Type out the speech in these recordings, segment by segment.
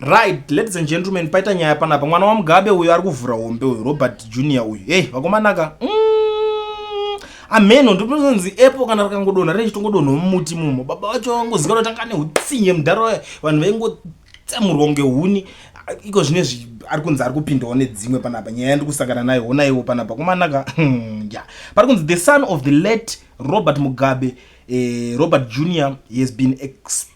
Right, ladies and gentlemen, paita nyaya panapa mwana waMugabe uyu ari kuvhura hombe uyu Robert Junior uyu. Hey, vakomanaka. Mm, ameno ndinozonzi epo kana rakangodonha rei chitongodonha mumuti mumo. Baba vacho vangozikana kuti angane utsinye mudhara waye. Vanhu vaingotsamurwa kunge huni. Iko zvine zvi ari kunzi ari kupindawo nedzimwe panapa nyaya yandiri kusangana nayo honaiwo panapa kumanaka hmm, ya pari kunzi the son of the late Robert Mugabe eh, Robert Junior he has been exposed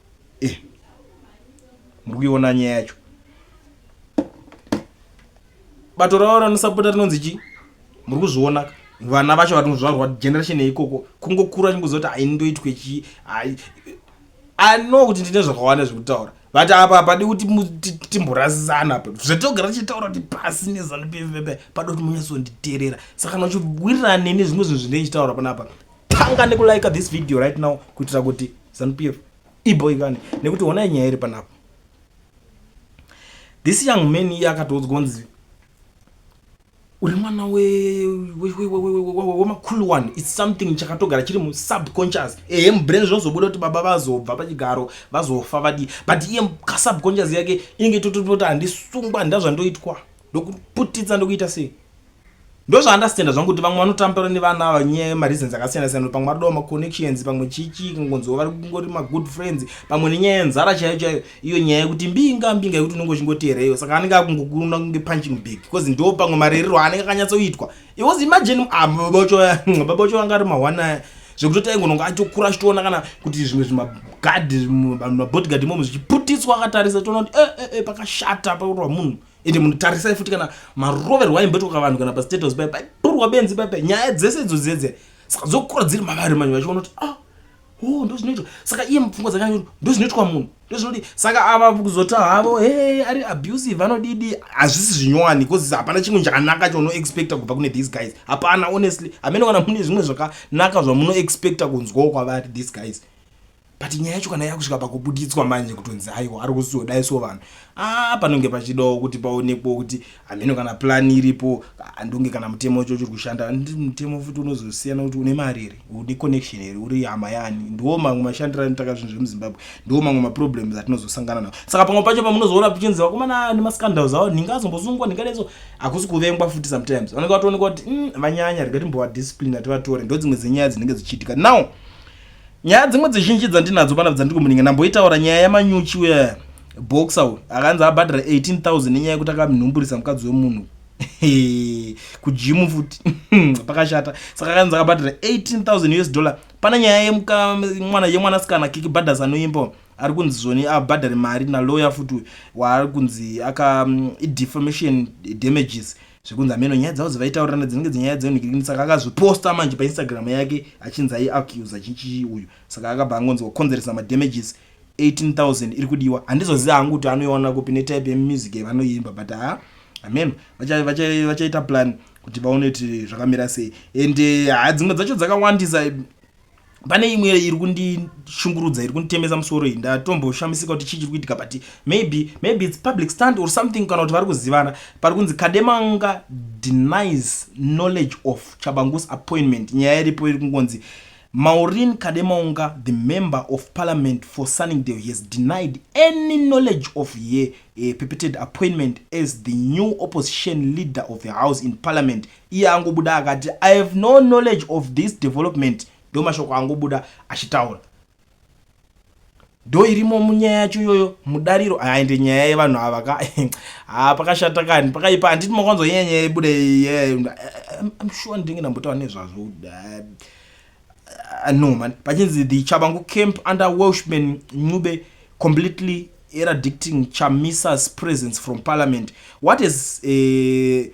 Eh, muri kuiona nyaya yacho bato ravo ranosapota rinonzi chii muri kuzviona ka vana vacho vatinozvarwa generation yeikoko kungokura chinguziva kuti aindoitwe chii ai anoa kuti ndine zvakawanda zvekutaura but apa hapadi kuti timborasisana apa zvatogara tichitaura kuti pasi nezanu pevepe pado kuti munyatsonditerera saka kana uchiwirirana neni zvimwe zvinhu zvine ichitaura panapa tanga nekulike this video right now kuitira kuti zanupf iboikane nekuti honai nyaya iri panapa this young man iye akatoudzwa kunzi uri mwana wemakulu one its something chakatogara chiri musubconscious ehe mubrain zvinozobuda kuti baba vazobva pachigaro vazofa vadii but iye kasubconscious yake inenge totototi handisungwa handazvandoitwa ndokuputitsa ndokuita sei ndozvaandastenda zvangu kuti vamwe vanotambura nevana ava nyaya yemareasons akasiyana siyana pamwe vari dova maconnections pamwe chichi kungonziwa vari kungori magood friends pamwe nenyaya yenzara chaiyo chaiyo iyo nyaya yekuti mbinga mbinga yekuti unenge uchingoteera iyo saka anenge akungokuna kunge punching big bcause ndo pamwe marerero aanenge akanyatsoitwa it was imagine ah, babacho vanga ari mahwana zvekuti taingononga atokura achitoona kana kuti zvimwe zvimagadhi mabodyguard imomo zvichiputiswa akatarisa toona kuti eh, eh, eh, pakashata pakurwa munhu ende munhu tarisai futi kana maroverwa aimbetoka vanhu kana pastatus pai paitorwa benzi pai pai nyaya dzese idzo dzedze saka dzokura dziri mavari manyu vachiona kuti ah o ndo zvinoitwa saka iye mupfungwa dzakanyanya kuti ndo zvinoitwa munhu ndo zvinodi saka ava kuzota havo he ari abusive anodidi hazvisi zvinyowani bcause hapana chimwe chakanaka chaunoexpecta kubva kune these guys hapana honestly hamene kana mune zvimwe zvakanaka zvamunoexpecta kunzwawo kwavari these guys but nyaya yacho kana yakusvika pakubuditswa manje kutonzi aiwa ari kuzodai so vanhu a ah, panonge pachidawo kuti paonekwewo kuti hameno kana plani iripo andonge kana mutemo wacho chiri kushanda ndi mutemo futi unozosiyana kuti une mari here une connection here uri hama yani ndiwo mamwe mashandiro anotaka zvinhu zvemuzimbabwe ndiwo mamwe maproblems atinozosangana nawo saka pamwe pacho pamunozoona pichinzi vakomana nemascandals awo nhinga azombosungwa nhinga neso hakusi kuvengwa futi sometimes vanenge vatoonekwa kuti mm, vanyanya rega timbovadiscipline ativatore ndo dzimwe dzenyaya dzinenge dzichiitika now Nyaya dzimwe dzizhinji dzandinadzo pana dzandiri kumuninga ndamboitaura nyaya yamanyuchi uya boxer uyu akanzi abhadhara 18000 nenyaya yekuti akamnhumburisa mukadzi wemunhu kujimu futi pakashata saka akanzi akabhadhara 18000 us dollar pane nyaya yemwana yemwanasikana kiki badhas anoimba ari kunzi zvoni abhadhare mari naloya futi waari kunzi aka mm, defamation damages mm, zvekunzi ameno nyaya dzavo dzevaitaurana dzinenge dzenyaya dzenhikirikini saka akazviposta manje painstagram yake achinzi aiacusa chichi uyu saka akabva angonzi wakonzeresa madamages 18000 iri kudiwa handizoziva hangu kuti anoiona kupi netype yemusic yavanoimba but ha ameno vachaita plan kuti vaone kuti zvakamira sei and eh, ha dzimwe dzacho dzakawandisa pane imwe iri kundishungurudza iri kunditemesa musoro iyi ndatomboshamisika kuti chii chiri kuitika but maybe maybe its public stand or something kana kuti vari kuzivana pari kunzi kademanga denies knowledge of chabangus appointment nyaya iripo iri kungonzi maurin kademaunga the member of parliament for sunningdale has denied any knowledge of ye uh, eh, perpetrated appointment as the new opposition leader of the house in parliament iye angobuda akati i have no knowledge of this development ndomashoko angobuda achitaura ndo irimo munyaya yacho iyoyo mudariro aende nyaya yevanhu ava ka ha pakashata kani pakaipa handiti makwanzo nyaya nyaya ibuda sure ndinge ndambotaura nezvazvo eh, eh, no man pachinzi the chabangu camp under welshman ncube completely eradicting chamisa's presence from parliament what is uh,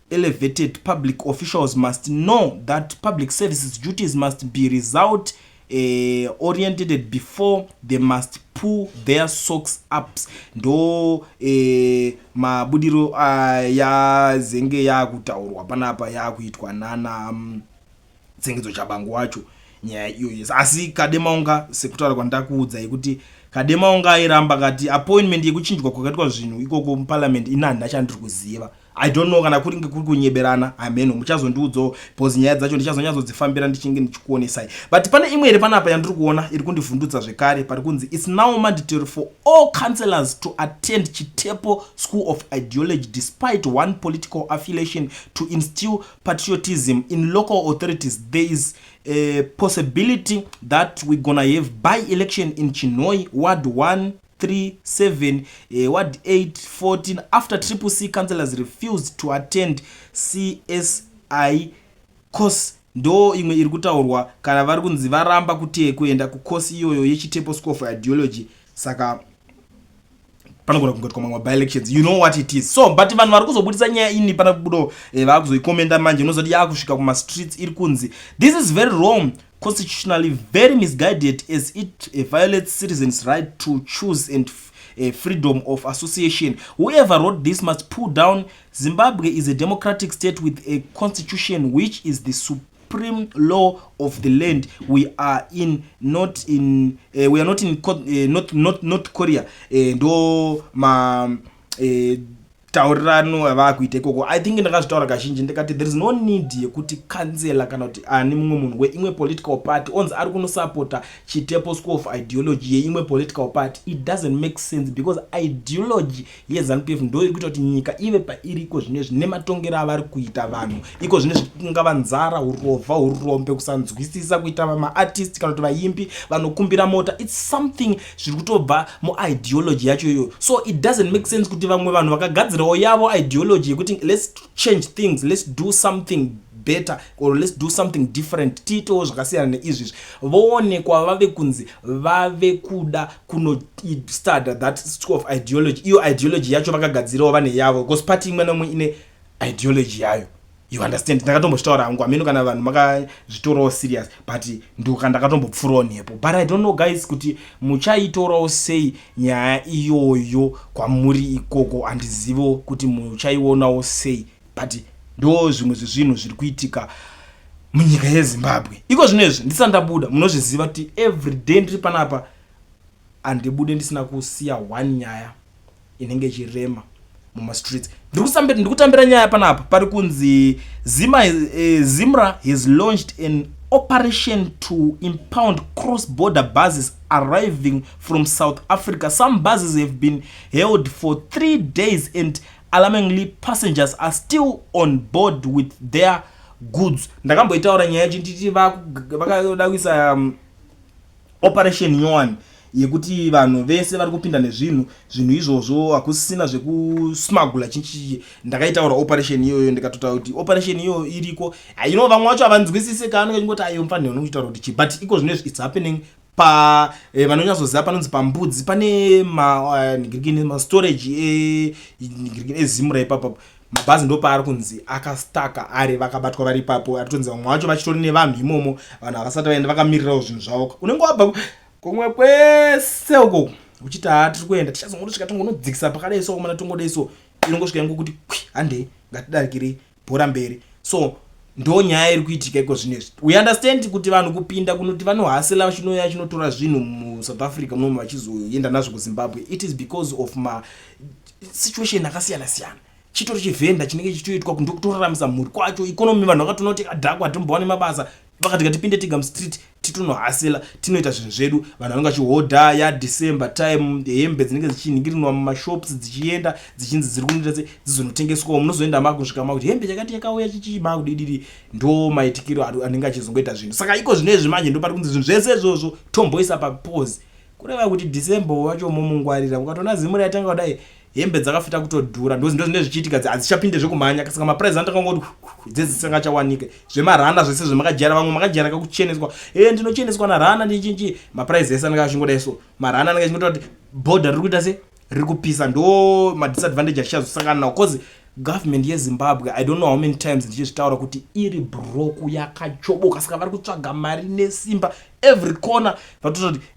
Elevated public officials must know that public services duties must be result eh, oriented before they must pull their socks ups ndo eh, mabudiro ayazenge yaakutaurwa panapa yaakuitwa nana um, tsengedzo chabangu wacho nyaya iyoyo asi kademaunga sekutaura kwandakuudza yekuti kademaunga airamba kati appointment yekuchinjwa kwakaitwa zvinhu ikoko muparliament ini handina chandiri kuziva i don't know kana kuringe kuri kunyeberana hameno muchazondiudzawo bcause nyaya dzacho ndichazonyatsodzifambira ndichinge ndichikuonesai but pane imwe iri panapa yandiri kuona iri kundivhundutsa zvekare pari kunzi its now mandatory for all councillors to attend chitepo school of ideology despite one political affiliation to instill patriotism in local authorities there is a possibility that we're gonna have by election in chinoi ward 1 3 7 uh, ward 8 14 after triple c councillors refused to attend csi course ndo imwe iri kutaurwa kana vari kunzi varamba kutee kuenda kukosi iyoyo yechitepo school for ideology saka panogona kungoitwa mamwe byelections you know what it is so but vanhu vari kuzobudisa nyaya ini pana kubudo eh, vaakuzoikomenda manje unozoti yaakusvika kumastreets iri kunzi this is very wrong constitutionally very misguided as it eh, violates citizens right to choose and uh, freedom of association whoever wrote this must pull down zimbabwe is a democratic state with a constitution which is the sup supreme law of the land we are in not in uh, we are not in uh, eh, not, not, not korea uh, ndo ma uh, taurirano avaakuita ikoko i think ndakazvitaura kazhinji ndikati there is no need yekuti kanzela kana kuti ani mumwe munhu weimwe political party onzi ari kunosapota chitepo school of ideology yeimwe political party it doesn't make sense because ideology yeZanupf ndo iri kuita kuti nyika ive pairi iko zvino izvi nematongero avari kuita vanhu iko zvino izvi kungava nzara hurovha hurombe kusanzwisisa kuita vamaartist kana kuti vaimbi vanokumbira mota its something zviri kutobva muideology yacho iyoyo so it doesn't make sense kuti vamwe vanhu vakagadzirawo yavo ideology yekuti let's change things let's do something better or let's do something different tiitewo zvakasiyana neizvizvi voonekwa vave kunzi vave kuda kunostuda that school of ideology iyo ideology yacho vakagadzirawo vane yavo because party imwe neumwe ine ideology yayo you understand ndakatomboshitaura hangu ameno kana vanhu makazvitorawo serious but ndoka ndakatombopfurawo nepo but i don't know guys kuti muchaitorawo sei nyaya iyoyo kwamuri ikoko handizivo kuti muchaionawo sei but ndo zvimwe zvezvinhu zviri kuitika munyika yezimbabwe iko zvino izvi ndisandabuda munozviziva kuti every day ndiri panapa handibude ndisina kusiya one nyaya inenge ichirema mumastreets ndiri kutambira nyaya panapa pari kunzi zima eh, zimra has launched an operation to impound cross border buses arriving from south africa some buses have been held for three days and Alarmingly, passengers are still on board with their goods. Ndakamboitaura nyaya yacho nditi vakada kuisa um, operation yoan yekuti vanhu vese vari kupinda nezvinhu zvinhu izvozvo hakusisina zvekusmagula chinchichi ndakaitaura operation iyoyo ndikatotaura kuti operation iyoyo iriko ino vamwe vacho havanzwisise kaanenge chingoti ayo mfanirano kuchitaura kuti chii but iko zvino izvi its happening pa eh, vanonyatsoziva panonzi pambudzi pane manigirikini eh, uh, mastorage enigirikini eh, ezimura ipapo mabhazi ndopaari kunzi akastaka ari vakabatwa vari ipapo aritonzi vamwe vacho vachitori nevanhu imomo vanhu havasati vaenda vakamirirawo zvinhu zvavo unenge wabva kumwe kwese uko uchiti haa tiri kuenda tichazongotosvika tongonodzikisa pakadai so mana tongodai so inongosvika yangu kuti kwi handei ngatidarikirei bhora mberi so ndo nyaya iri kuitika iko zvino izvi we understand kuti vanhu kupinda kunoti vanohasela vachinouya chinotora zvinhu musouth africa munomu vachizoenda nazvo kuzimbabwe it is because of ma situation akasiyana siyana chitori chivhenda chinenge chichitoitwa kundokutoraramisa mhuri kwacho ikonomi vanhu vakatoona kuti adhakwa atimbowane mabasa vakati ngatipinde tega mustreet titonohasela tinoita zvinhu zvedu vanhu vanenge vachihodha ya december time hembe dzinenge dzichinhingirinwa mumashops dzichienda dzichinzi dziri kunoita se dzizonotengeswawo munozoenda makusvika makuti hembe chakati yakauya chichii makudidiri ndo maitikiro anenge achizongoita zvinhu saka iko zvino izvi manje ndopari kunzi zvinhu zvese izvozvo tomboisa papose kureva kuti december uyu wacho momungwarira ukatoona zimu raitanga kudai hembe dzakafita kutodhura ndozindo zvinenge zvichiitika dzi hadzichapinde zvekumhanya saka maprize anotanga kungoti dzedzi dzisangachawanike zvemarana zvese zvemakajara vamwe makajara kakucheneswa e ndinocheneswa narana ndichinchi maprize ese anenge achingodai so marana anenge achingotaura kuti bhodha riri kuita se riri kupisa ndo madisadvantage atichazosangana nawo cause government yezimbabwe i don't know how many times ndichizvitaura kuti iri broku yakachoboka saka vari kutsvaga mari nesimba every corner vatoita kuti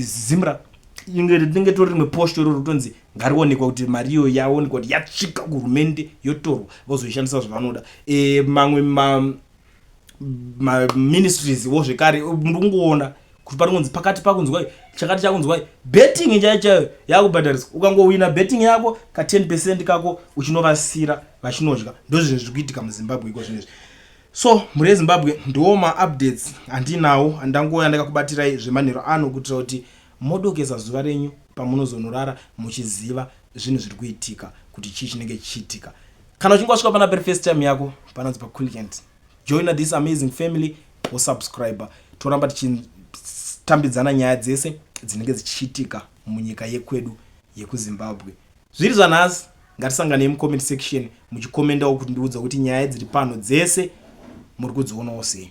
zimra inge tinenge tori rimwe post iro rotonzi ngarionekwa kuti mari iyo yaonekwa kuti yatsvika kuhurumende yotorwa vozoishandisa zvavanoda e, mamwe ma, maministries wo zvekare muri kungoona kuti pari kunzi pakati pakunzwai chakati chakunzwai betting chaiyo chaiyo yakubhadhariswa ukangowina betting yako ka 10 percent kako uchinovasira vachinodya ndozvizvi zviri kuitika muzimbabwe iko zvinezvi so mhuri yezimbabwe ndiwo maupdates andinawo andangouya ndakakubatirai zvemanhero ano kuitira kuti modokesa zuva renyu pamunozonorara muchiziva zvinhu zviri kuitika kuti chii chinenge chichiitika Kana uchinge wasvika pana pari first time yako pananzi pa Quilliant. Join this amazing family wo subscriber. Toramba tichitambidzana nyaya dzese dzinenge dzichiitika munyika yekwedu yekuZimbabwe. Zviri zvanhasi ngatisanganei mucomment section muchikomendawo kuti ndiudza kuti nyaya dziri pano dzese muri kudzionawo sei.